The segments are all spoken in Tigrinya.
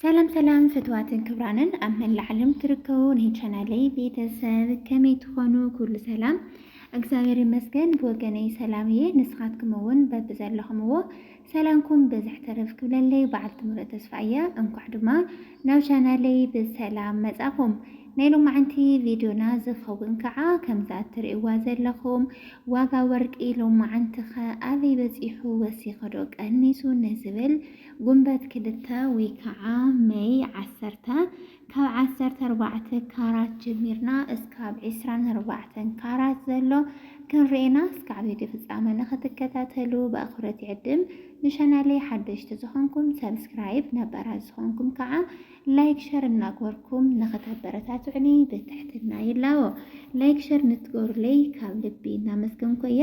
ሰላም ሰላም ፍትዋትን ክብራንን ኣብ መላእ ዓለም ትርከቡ ናይ ቻናለይ ቤተሰብ ከመይ ትኾኑ? ኩሉ ሰላም እግዚኣብሔር ይመስገን ብወገነይ ሰላም እየ። ንስኻትኩም እውን በብዘለኹምዎ ሰላምኩም ብዝሕ ተረፍ ክብለለይ በዓልቲ ምሉእ ተስፋ እያ። እንኳዕ ድማ ናብ ቻናለይ ብሰላም መጻኹም። ናይ ሎማዓንቲ ቪድዮና ዝኸውን ከዓ ከምዛ እትርእይዋ ዘለኹም ዋጋ ወርቂ ሎማዓንቲ ኸ ኣበይ በፂሑ ወሲኸዶ ቀኒሱ ንዝብል ጉንበት ክልተ ወይ ከዓ መይ ዓሰርተ፣ ካብ ዓሰርተ ኣርባዕተ ካራት ጀሚርና እስካብ ዕስራን ኣርባዕተን ካራት ዘሎ ክንርኤና እስካዕ ቪድዮ ፍፃመ ንክትከታተሉ ብኣክብሮት ይዕድም። ንቻናለይ ሓደሽቲ ዝኾንኩም ሰብስክራይብ፣ ነባራት ዝኾንኩም ከዓ ላይክ ሸር እናግበርኩም ንክተበረታትዑኒ ብትሕትና ይላቦ። ላይክ ሸር ንትገብሩለይ ካብ ልቢ እናመስገንኩ እየ።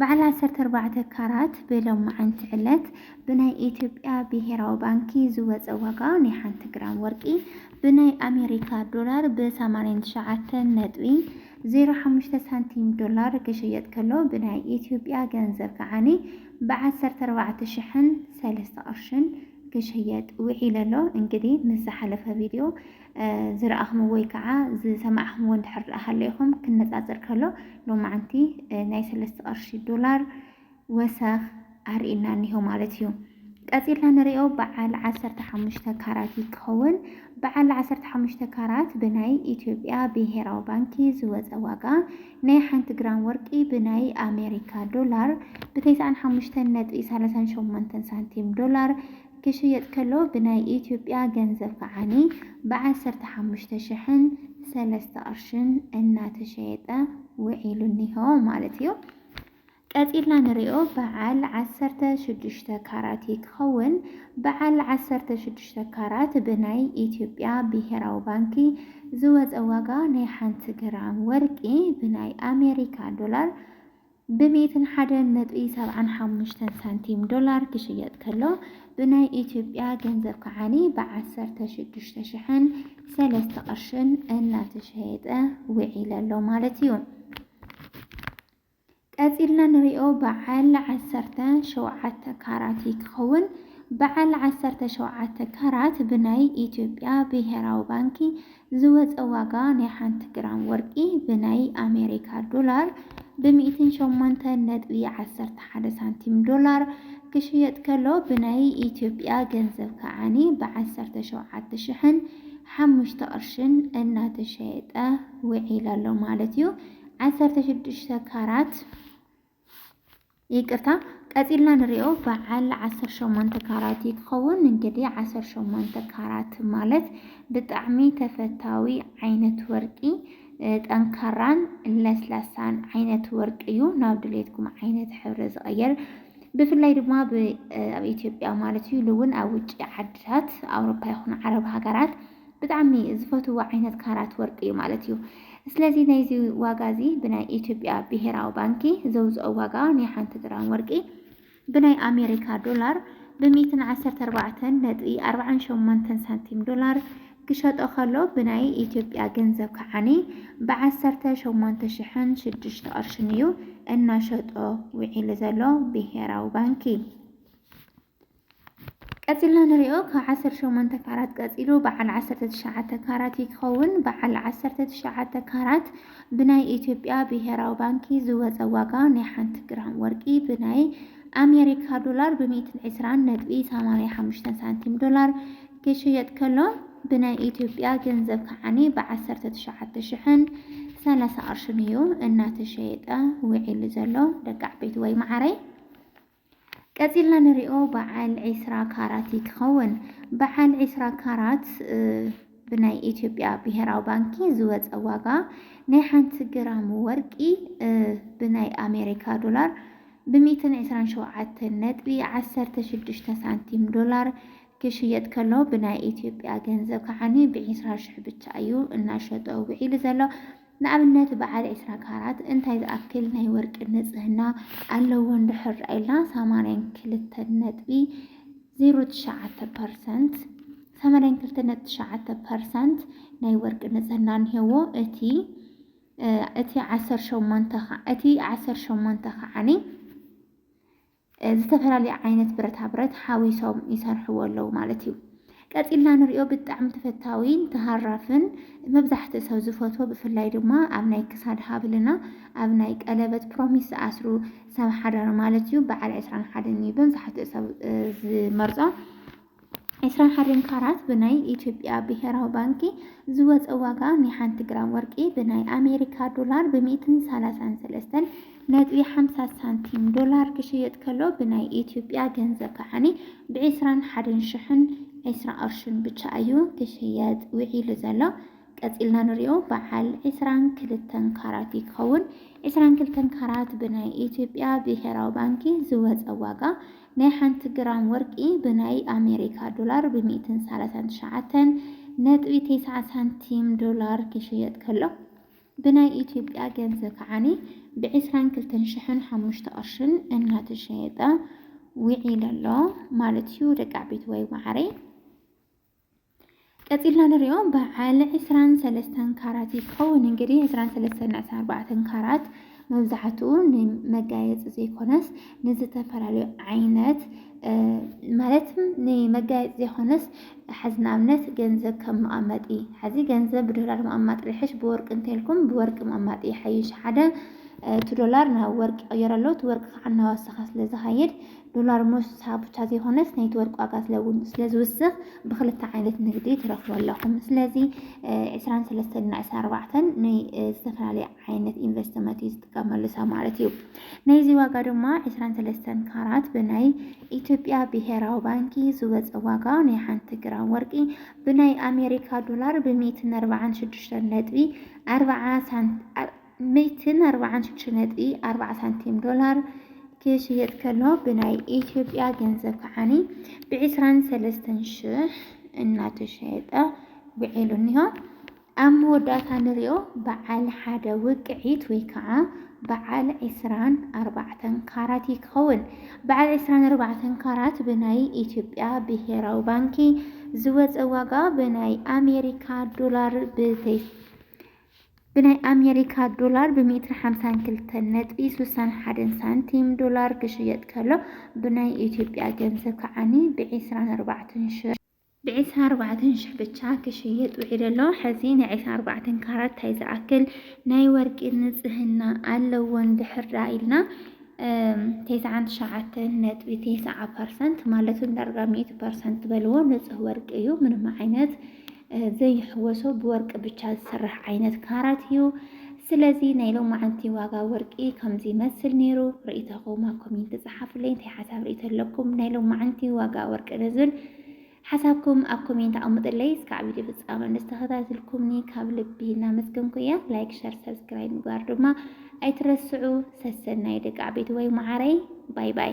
በዓል ዓሰርተ ኣርባዕተ ካራት ብሎማዕንቲ ዕለት ብናይ ኢትዮጵያ ብሄራዊ ባንኪ ዝወፀ ዋጋ ናይ ሓንቲ ግራም ወርቂ ብናይ ኣሜሪካ ዶላር ብ ሰማንያን ትሽዓተን ነጥቢ ዜሮ ሓሙሽተ ሳንቲም ዶላር ክሽየጥ ከሎ ብናይ ኢትዮጵያ ገንዘብ ከዓኒ ብ ዓሰርተ ኣርባዕተ ሽሕን ሰለስተ ቅርሽን ክሽየጥ ውዒሉ ኣሎ። እንግዲህ ምስ ዝሓለፈ ቪድዮ ዝረኣኽምዎ ወይ ከዓ ዝሰማዕኽምዎ እንድሕር ደኣ ሃለይኹም ክነፃፀር ከሎ ሎማዓንቲ ናይ ሰለስተ ቅርሺ ዶላር ወሰኽ ኣርእና እኒሆ ማለት እዩ። ቀፂልና ንሪኦ በዓል ዓሰርተ ሓሙሽተ ካራት ይከውን። በዓል ዓሰርተ ሓሙሽተ ካራት ብናይ ኢትዮጵያ ብሄራዊ ባንኪ ዝወፀ ዋጋ ናይ ሓንቲ ግራም ወርቂ ብናይ ኣሜሪካ ዶላር ብተስዓን ሓሙሽተን ነጥቢ ሰላሳን ሸሞንተን ሳንቲም ዶላር ክሽየጥ ከሎ ብናይ ኢትዮጵያ ገንዘብ ከዓኒ ብ ዓሰርተ ሓሙሽተ ሽሕን ሰለስተ ቅርሽን እናተሸየጠ ውዒሉ እኒሆ ማለት እዩ። ቀፂልና ንሪኦ በዓል ዓሰርተ ሽዱሽተ ካራት እዩ ክኸውን። በዓል ዓሰርተ ሽዱሽተ ካራት ብናይ ኢትዮጵያ ብሄራዊ ባንኪ ዝወፀ ዋጋ ናይ ሓንቲ ግራም ወርቂ ብናይ ኣሜሪካ ዶላር ብ ሚእትን ሓደን ነጥቢ ሰብዓን ሓሙሽተን ሳንቲም ዶላር ክሽየጥ ከሎ ብናይ ኢትዮጵያ ገንዘብ ከዓኒ ብ ዓሰርተ ሽዱሽተ ሽሕን ሰለስተ ቅርሽን እናተሸየጠ ውዒለ ኣሎ ማለት እዩ። ቀጺልና ንሪኦ በዓል ዓሰርተ ሸውዓተ ካራት እዩ ክኸውን። በዓል ዓሰርተ ሸውዓተ ካራት ብናይ ኢትዮጵያ ብሄራዊ ባንኪ ዝወጸ ዋጋ ናይ ሓንቲ ግራም ወርቂ ብናይ ኣሜሪካ ዶላር ብ ሚእትን ሸሞንተን ነጥቢ ዓሰርተ ሓደ ሳንቲም፣ ዶላር፣ ክሽየጥ ከሎ ብናይ ኢትዮጵያ ገንዘብ ከዓኒ ብ ዓሰርተ ሸውዓተ ሽሕን ሓሙሽተ ቅርሽን እናተሸየጠ ውዒሉ ኣሎ ማለት እዩ። ዓሰርተ ሽዱሽተ ካራት። ይቅርታ ቀጺልና ንሪኦ በዓል ዓሰርተ ሸሞንተ ካራት እዩ ክኸውን እንግዲ ዓሰርተ ሸሞንተ ካራት ማለት ብጣዕሚ ተፈታዊ ዓይነት ወርቂ ጠንካራን ለስላሳን ዓይነት ወርቂ እዩ ናብ ድሌትኩም ዓይነት ሕብሪ ዝቐየር ብፍላይ ድማ ኣብ ኢትዮጵያ ማለት እዩ ኢሉ እውን ኣብ ውጭ ዓድታት ኣውሮፓ ይኹን ዓረብ ሃገራት ብጣዕሚ ዝፈትዎ ዓይነት ካራት ወርቂ እዩ ማለት እዩ። ስለዚ ናይዚ ዋጋ እዚ ብናይ ኢትዮጵያ ብሄራዊ ባንኪ ዘውፅኦ ዋጋ ናይ ሓንቲ ግራም ወርቂ ብናይ ኣሜሪካ ዶላር ብሚእትን ዓሰርተ ኣርባዕተን ነጥቢ ኣርባዓን ሸሞንተን ሳንቲም ዶላር ክሸጦ ከሎ ብናይ ኢትዮጵያ ገንዘብ ከዓኒ ብዓሰርተ ሸሞንተ ሽሕን ሽዱሽተ ቅርሽን እዩ እናሸጦ ውዒሉ ዘሎ ብሄራዊ ባንኪ። ቀጺልና ንሪኦ ካብ ዓሰርተ ሸሞንተ ካራት ቀጺሉ በዓል ዓሰርተ ትሽዓተ ካራት እዩ ክኸውን። በዓል ዓሰርተ ትሽዓተ ካራት ብናይ ኢትዮጵያ ብሄራዊ ባንኪ ዝወፀ ዋጋ ናይ ሓንቲ ግራም ወርቂ ብናይ ኣሜሪካ ዶላር ብሚእትን ዕስራን ነጥቢ ሰማንያ ሓሙሽተን ሳንቲም ዶላር ክሽየጥ ከሎ ብናይ ኢትዮጵያ ገንዘብ ከዓኒ ብዓሰርተ ትሽዓተ ሽሕን ሰላሳ ቅርሽን እዩ እናተሸየጠ ውዒሉ ዘሎ ደቂ ዓበይቲ ወይ መዓረይ ቀጺልና ንሪኦ በዓል ዒስራ ካራት እዩ ክኸውን። በዓል ዒስራ ካራት ብናይ ኢትዮጵያ ብሄራዊ ባንኪ ዝወፀ ዋጋ ናይ ሓንቲ ግራም ወርቂ ብናይ ኣሜሪካ ዶላር ብሚእትን ዕስራን ሸውዓተን ነጥቢ ዓሰርተ ሽዱሽተ ሳንቲም ዶላር ክሽየጥ ከሎ ብናይ ኢትዮጵያ ገንዘብ ከዓኒ ብዒስራ ሽሕ ብቻ እዩ እናሸጦ ውዒሉ ዘሎ። ንኣብነት በዓል ዕስራ ካራት እንታይ ዝኣክል ናይ ወርቂ ንጽህና ኣለዎ እንድሕር ርኣይልና ሰማንያን ክልተን ነጥቢ ዜሮ ትሽዓተ ፐርሰንት ሰማንያን ክልተ ነጥቢ ትሽዓተ ፐርሰንት ናይ ወርቂ ንጽህና እንሄዎ እቲ እቲ ዓሰርተ ሸሞንተ እቲ ዓሰርተ ሸሞንተ ከዓኒ ዝተፈላለየ ዓይነት ብረታ ብረት ሓዊሶም ይሰርሕዎ ኣለዉ ማለት እዩ። ቀጺልና ንሪኦ ብጣዕሚ ተፈታዊን ተሃራፍን መብዛሕትኡ ሰብ ዝፈትዎ ብፍላይ ድማ ኣብ ናይ ክሳድ ሃብልና ኣብ ናይ ቀለበት ፕሮሚስ ዝኣስሩ ሰብ ሓዳር ማለት እዩ በዓል ዕስራን ሓደን እዩ መብዛሕትኡ ሰብ ዝመርጾ ዕስራን ሓደን ካራት ብናይ ኢትዮጵያ ብሄራዊ ባንኪ ዝወፀ ዋጋ ናይ ሓንቲ ግራም ወርቂ ብናይ ኣሜሪካ ዶላር ብሚእትን ሰላሳን ሰለስተን ነጥቢ ሓምሳ ሳንቲም ዶላር ክሽየጥ ከሎ ብናይ ኢትዮጵያ ገንዘብ ከዓኒ ብዕስራን ሓደን ሽሕን ዕስራ ቅርሽን ብቻ እዩ ክሽየጥ ውዒሉ ዘሎ። ቀፂልና ንሪኦ በዓል ዕስራን ክልተን ካራት ይከውን። ዕስራን ክልተን ካራት ብናይ ኢትዮጵያ ብሄራዊ ባንኪ ዝወፀ ዋጋ ናይ ሓንቲ ግራም ወርቂ ብናይ ኣሜሪካ ዶላር ብ ሚእትን ሳላሳን ትሽዓተን ነጥቢ ቴስዓ ሳንቲም ዶላር ክሽየጥ ከሎ ብናይ ኢትዮጵያ ገንዘብ ከዓኒ ብ ዕስራን ክልተን ሽሕን ሓሙሽተ ቅርሽን እናተሸየጠ ዊዒሉ ኣሎ ማለት እዩ ደቂ ዓበይቲ ዋይ ማዓረይ። ቀጺልና ንሪኦ በዓል ዕስራን ሰለስተን ካራት እዩ ክኸውን እንግዲህ ዕስራን ሰለስተን ዕስራን ኣርባዕተን ካራት መብዛሕትኡ ንመጋየፂ ዘይኮነስ ንዝተፈላለዩ ዓይነት ማለት ንመጋየፂ ዘይኮነስ ሓዚ ንኣብነት ገንዘብ ከም መቐመጢ ሓዚ ገንዘብ ብዶላር መቐማጢ ርሕሽ ብወርቂ እንተልኩም ብወርቂ መቐማጢ ይሓይሽ ሓደ እቲ ዶላር ናብ ወርቂ ይቕየር ኣሎ እቲ ወርቂ ከዓ እናወሰኸ ስለ ዝኸይድ ዶላር ሞሳ ብቻ ዘይኮነስ ናይቲ ወርቂ ዋጋ ስለውን ስለዝውስኽ ብክልተ ዓይነት ንግዲ ትረኽቡ ኣለኹም። ስለዚ ዕስራን ሰለስተን እና ዕስራ ኣርባዕተን ናይ ዝተፈላለየ ዓይነት ኢንቨስትመንት እዩ ዝጥቀመሉ ሰብ ማለት እዩ። ናይዚ ዋጋ ድማ ዕስራን ሰለስተን ካራት ብናይ ኢትዮጵያ ብሄራዊ ባንኪ ዝወፀ ዋጋ ናይ ሓንቲ ግራም ወርቂ ብናይ ኣሜሪካ ዶላር ብሚእትን ኣርባዓን ሽዱሽተን ነጥቢ ኣርባዓ ሳንት ሚእትን ኣርባዓን ሽዱሽተ ነጥቢ ኣርባዓ ሳንቲም ዶላር ክሽየጥ ከሎ ብናይ ኢትዮጵያ ገንዘብ ከዓኒ ብዕስራን ሰለስተን ሽሕ እናተሸየጠ ውዒሉ እኒሆ። ኣብ መወዳእታ ንሪኦ በዓል ሓደ ውቅዒት ወይ ከዓ በዓል ዕስራን ኣርባዕተን ካራት እዩ ክኸውን። በዓል ዕስራን ኣርባዕተን ካራት ብናይ ኢትዮጵያ ብሄራዊ ባንኪ ዝወፀ ዋጋ ብናይ ኣሜሪካ ዶላር ብተይ ብናይ ኣሜሪካ ዶላር ብ ሜትር ሓምሳን ክልተን ነጥቢ ስሳን ሓደን ሳንቲም ዶላር ክሽየጥ ከሎ ብናይ ኢትዮጵያ ገንዘብ ከዓኒ ብ ዕስራን ኣርባዕተን ሽሕ ብ ዕስራን ኣርባዕተን ሽሕ ብቻ ክሽየጥ ውዒሉ ኣሎ። ሕዚ ናይ ዕስራን ኣርባዕተን ካራት ታይ ዝኣክል ናይ ወርቂ ንፅህና ኣለዎ እንድሕር ደኣ ኢልና ቴስዓን ትሽዓተን ነጥቢ ቴስዓ ፐርሰንት ማለትም ዳርጋ ሚእቲ ፐርሰንት በልዎ ንፁህ ወርቂ እዩ ምንም ዓይነት ዘይሕወሶ ብወርቂ ብቻ ዝስራሕ ዓይነት ካራት እዩ። ስለዚ ናይ ሎማዓንቲ ዋጋ ወርቂ ከምዚ ይመስል ነይሩ። ርእይቶኹም ኣብ ኮሜንቲ ጸሓፉለይ እንታይ ሓሳብ ርእይቶ ኣለኩም ናይ ሎማዓንቲ ዋጋ ወርቂ ንዝብል ሓሳብኩም ኣብ ኮሜንት ኣቐምጥለይ። እስካዕ ቪድዮ ፍጻመ ንዝተኸታተልኩምኒ ካብ ልቢ እናመስገንኩ እያ። ላይክ፣ ሸር፣ ሰብስክራይብ ምግባር ድማ ኣይትረስዑ። ሰሰናዩ ደቂ ዓበይቲ ወይ መዓረይ ባይ ባይ።